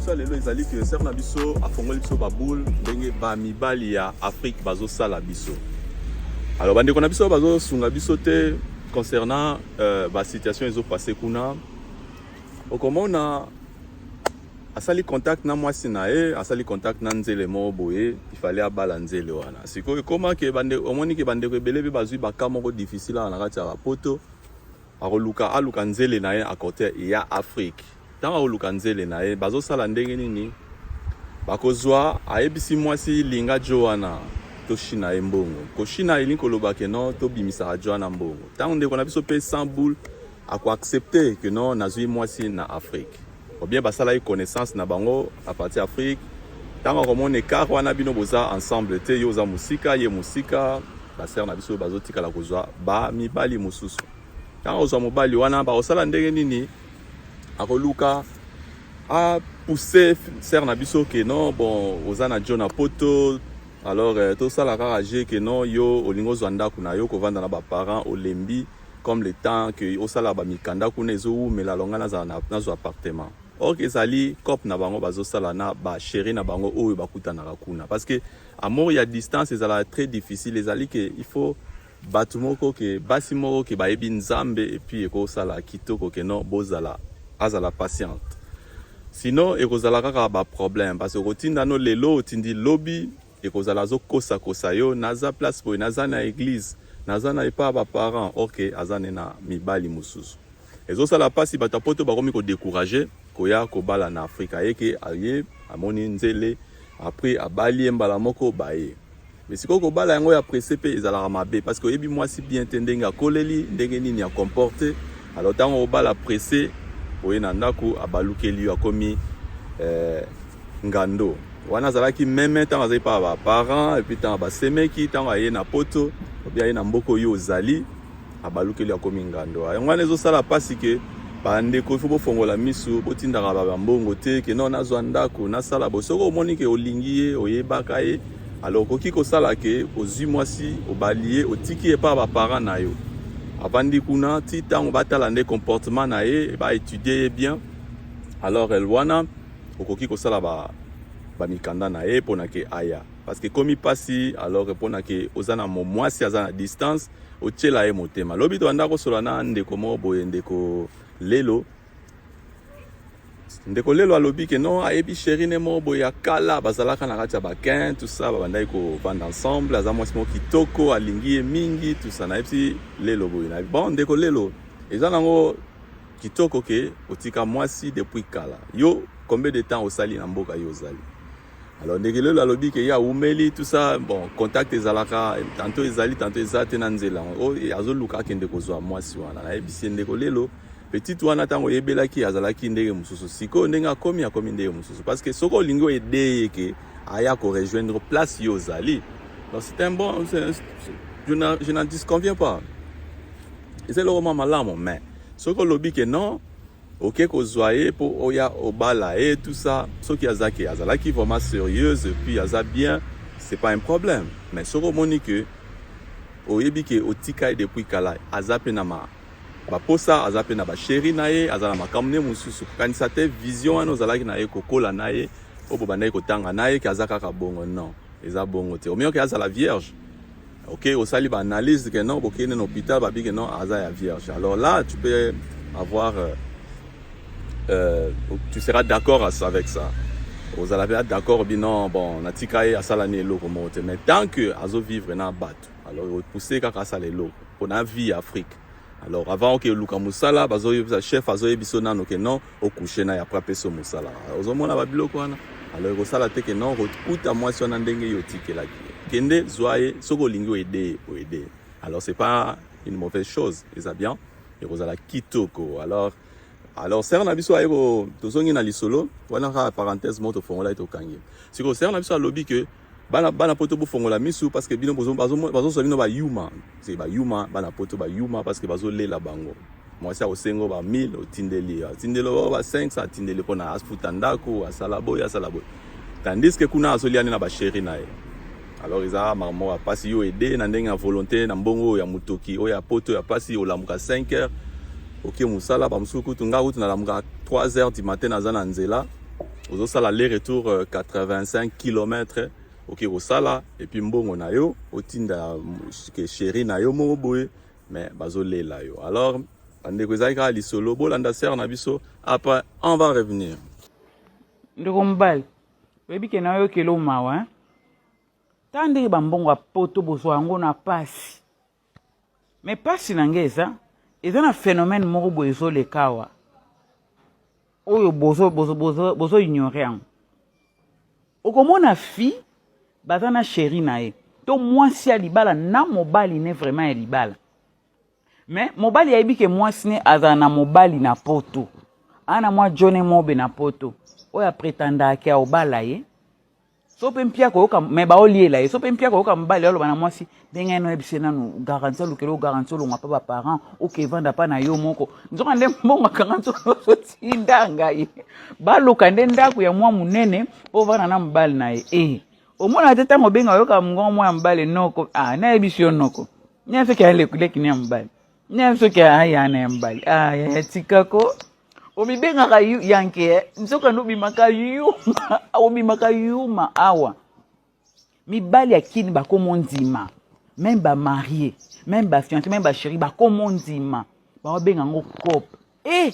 biso lelo ezali que ser na biso afongoli biso baboule ndenge bamibali ya afrique bazosala biso alors bandeko na biso bazosunga biso te concernant euh, basituation ezopasse kuna okomona asali contact na mwasi na ye asali contact na nzele moko boye ifale abala nzele wana sikoyo ekoma ke bande omoni ke bandeko ebele mpe bazwi baka moko difficile awa na kati ya bapoto akoluka aluka nzele na ye a cote ya afrique ntango akoluka nzele na ye bazosala ndenge nini bakozwa ayebisi mwasi linga jo wana toshina ye mbongo koshina elingi koloba ke no tobimisaka jo wana mbongo ntango ndeko na biso mpe 100 boule akoaccepte ke no nazwi mwasi na afrique ou bien basalaki connaissance na bango à partir Afrique ntango akomona écart wana bino boza ensemble te yo oza mosika ye mosika basere na biso bazotikala kozwa bamibali mosusu ntango ozwa mobali wana bakosala ndenge nini akoluka apousse sere na biso ke non bon oza na jo na poto alors euh, tosala kaka je ke non yo olingi ozwa ndako na yo kovanda na baparent olembi comme le temps que osala ba mikanda kuna ezo wumela longa nazala na nazo appartement or que ezali cop na bango bazosala na ba chéri na bango oyo bakutanaka kuna parce que amour ya distance ezalaka très difficile ezali ke il faut bato moko ke basi moko ke bayebi nzambe epuis ekosala kitoko ke non bozala azala patiente sinon ekozala kaka baproblème parce que okotinda no lelo otindi lobi ekozala azo kosa kosa yo naza place boye naza na eglise naza na epa ba parents ok aza ne na mibali mosusu ezosala mpasi bato ya poto bakomi kodecourage koya kobala na afrika ayeke aye amoni nzele apres abali ye mbala moko baye me sikoyo kobala yango ya presse mpe ezalaka mabe parce que oyebi mwasi bien te ndenge akoleli ndenge nini ya comporte alors ntango obala presse oye na ndako abalukeli yo akomi eh, ngando wana azalaki meme ntango azali mpa ba parents epuis ntango basemeki ntango aye na poto obi aye na mboka oyo ozali abalukeli akomi ngando yango wana ezosala mpasi ke bandeko ifo bofongola misu botindaka babambongo te ke no nazwa ndako nasala bo soki omoni ke olingi ye oyebaka ye alors okoki kosala ke ozwi mwasi obali ye otiki ye mpa baparent na yo avandi kuna ti ntango batala nde comportement na ye baétudie ye bien alors wana okoki kosala ba ba mikanda na ye pona ke aya parce que komi pasi alors que pona ke oza na mwasi aza na distance otyela ye motema lobi tobanda kosola na ndeko moko boye ndeko lelo ndeko lelo alobi ke non ayebi sheri ne moko boye ya kala bazalaka na kati ya bakin tusa babandaki kobanda ensemble aza mwasi moko kitoko alingi ye mingi tusa nayebisi lelo boye na bon ndeko lelo eza nango Kitoko ke otika mwasi depuis kala. Yo combien de temps osali na mboka yo ozali? Alors Ndegelelo alobi ke ya umeli tout ça bon contact ezalaka tanto ezali tanto eza te na nzela o oh, azoluka akende kozwa mwasi wana nayebisi ndeko lelo petit wana ntango oyebelaki azalaki ndenge mosusu sikoyo ndenge akomi akomi ndenge mosusu parce que soki olingi oyede ye ke aya korejoindre place yo ozali donc c'est un bon je n'en disconviens pas eza eloko mwa malamu mais soki olobi ke non oke kozwa ye mpo oya obala ye tout ça soki aza ke azalaki vraiment sérieuse puis aza bien c'est pas un problème mais soki omoni ke oyebi ke otika ye depuis kala aza mpe na ma baposa aza mpe na basheri na ye aza na makambo nde mosusu kokanisa te vision wana ozalaki na ye kokola na ye oyo bobandaki kotanga na ye ke aza kaka bongo non eza bongo te omiyoki azala vierge ok osali ba analyse que non bokende na hôpital babi que non aza ya vierge alors là tu peux avoir euh, euh, tu seras d'accord avec ça ozala mpe d'accord bi non bon natika ye asala ni eloko moko te mais tant que azo vivre na bato alors opousse kaka asala eloko mpona vie ya afrique alors avant oke oluka mosala bazoyebisa chef azoyebiso nano ke non o couche na ye après apesi yo mosala ozomona babiloko wana alors ekosala te ke non okuta mwasi wana ndenge yo otikelaki kende zwa ye soki olingi oede ye oede ye alors c'est pas une mauvaise chose eza bien ekozala kitoko alors alors sere na biso aye tozongi na lisolo wana kaka parenthèse moko tofongola ye tokangi sikoyo sere na biso alobi ke bana bana poto bofongola misu parce que bino bazosa bino bayuma se bayuma bana poto bayuma parce que bazolela bango mwasi akosengo ba 1000 otindeli atindeli o ba 500 atindeli mpo na afuta ndako asala boye asala boye tandis que kuna azoliani na basheri na ye alors eza makambo ya mpasi yo ede na ndenge ya volonté na mbongo oyo ya motoki oyo ya poto ya mpasi olamuka 5 heures oke mosala bamosusu kutu ngai kutu nalamukaka 3 heures du matin naza na nzela ozosala le retour 85 euh, km oke kosala epuis mbongo na yo otinda sheri na yo moko boye mais bazolela yo alors bandeko ezali kaka lisolo bolanda sere na biso après on va revenir ndeko mobali oyebi ke nayokeli omawa ta ndenge bambongo ya poto bozwa yango na mpasi Mais pasi na ngai eza eza na phénomène moko boye ezoleka awa oyo bozo bozo bozo bozo ignore yango okomona fi baza na sheri na ye to mwasi ya libala na mobali ne vraiment ya libala me mobali ayebi ke mwasi ne azala na mobali na poto ana mwa jone mobe na poto oyo apretandaka ke aobala ye so mpe mpia koyoka me baoliela ye so mpe mpia koyoka mobali aloba na mwasi ndenge ena oyebise nanu garanti alukela o garanti olonga mpa baparent oke evanda mpa na yo moko nzoka nde mbongo akanganti ozotinda ngai baluka nde ndako ya mwa monene mpo ovanda na mobali na ye e eh, omona te ntango obenga oyoka mongongo mwa ya mobali noko a ah, nayebisi yo noko nyaseke aleki ne ya mobali nani soki aya na ya mbali aya ya tika ko omibengaka yanke eh? nzokande obimaka yuma obimaka yuma awa mibali ya kini bakomo ndima meme bamarie meme bafiance meme basheri bakomo ndima baobenga yango cope e eh!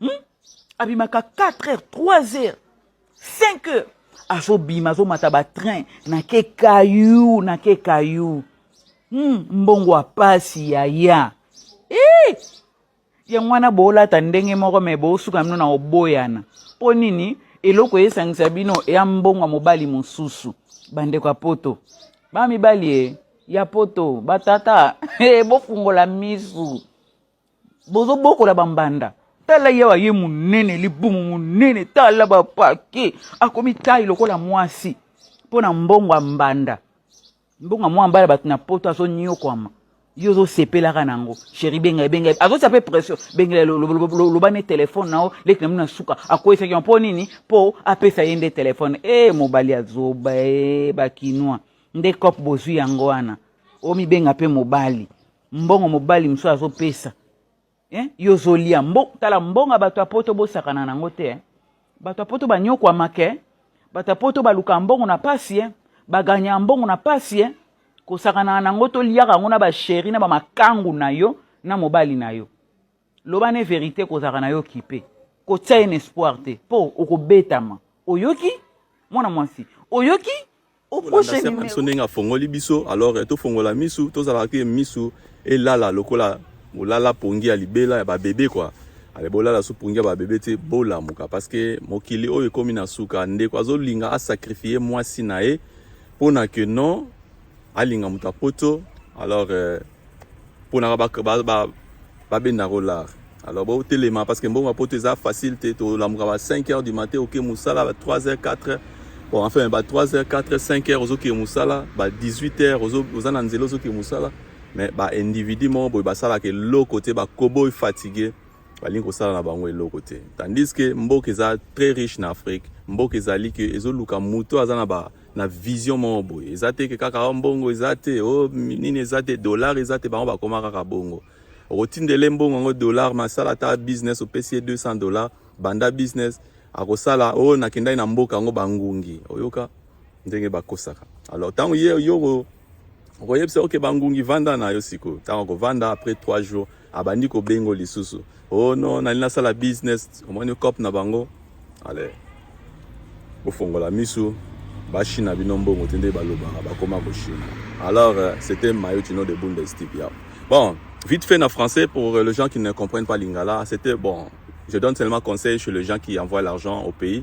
hmm? abimaka 4 heures 3 heures 5 heures azobima azomata batrain na ke kayu na ke kayu hmm, mbongo ya pasi yaya eh! yango wana boolata ndenge moko me boosuka mino na oboyana mpo nini eloko esangisa bino ya mbongo ya mobali mosusu bandeko ya poto bamibali e ya poto batata e bofungola misu bozo bokola ba mbanda tala ye aye monene libumu monene tala ba pake akomi tai lokola mwasi mpo na mbongo ya mbanda mbongo ya mwa mbala bato na poto azonyokwama yo ozosepelaka na yango sheri benga ebenga azotia mpe pression bengela loba ne telefone na yo leki na mino na suka akweyisaki yango mpo nini mpo apesa ye nde telefone e mobali ya zoba e bakinois nde cop bozwi yango wana omibenga mpe mobali mbongo mobali mosusu azopesa eh? yo ozolia mbo, tala mbongo ya bato ya poto bosakana nango te eh? bato ya poto banyokwamaka eh? bato ya poto balukaka mbongo na pasi eh? baganyaka mbongo na pasi eh? kosakanaka nango toliaka yango na basheri na bamakangu na yo na mobali na yo loba ne verité kozalaka na yo kipe kotya ye na espoir te mpo okobetama oyoki mwana mwasi oyoki Okolanda sœur na biso ndenge afongoli biso alors eh, tofongola misu tozalaka te misu elala lokola bolala pongi ya libela ya babebe kua ale bolala so pongi ya babebe te bolamuka parce que mokili oyo ekomi na suka ndeko azolinga asakrifie mwasi na ye mpo na que non alinga moto ya poto alors euh, ponaka babenda kolar alors botelema parce que mbongo ya poto eza facile te tolamuka ba 5 heures du matin oke mosala ba 3 heures 4 heures bon enfin ba 3 heures 4 heures 5 heures ozokee mosala ba 18 heures oza na nzela ozokee mosala mais ba individu moko boye basalaka eloko te bakoboy fatigue balingi kosala na bango eloko te tandis que mboka eza très riche na afrique mboka ezali ke ezoluka moto aza na ba na vision moko boye eza te ke kaka mbongo eza te o oh, nini eza te dollar eza te bango bakoma kaka bongo okotindele mbongo yango dollar masala ata business opesi ye 200 dollar banda business akosala oyo oh, nakendaki na mboka yango bangungi oyoka ndenge bakosaka alors ntango ye yo okoyebisa oke bangungi vanda na yo sikoyo ntango akovanda après 3 jours abandi kobengo lisusu oh no nali nasala business omoni cop na bango ale bofongola misu bachina bino mbongo te nde balobaka bakoma kochina alors euh, c'était mayo chino de bundestig ya bon vite fait na français pour euh, les gens qui ne comprennent pas lingala c'était bon je donne seulement conseil chez les gens qui envoient l'argent au pays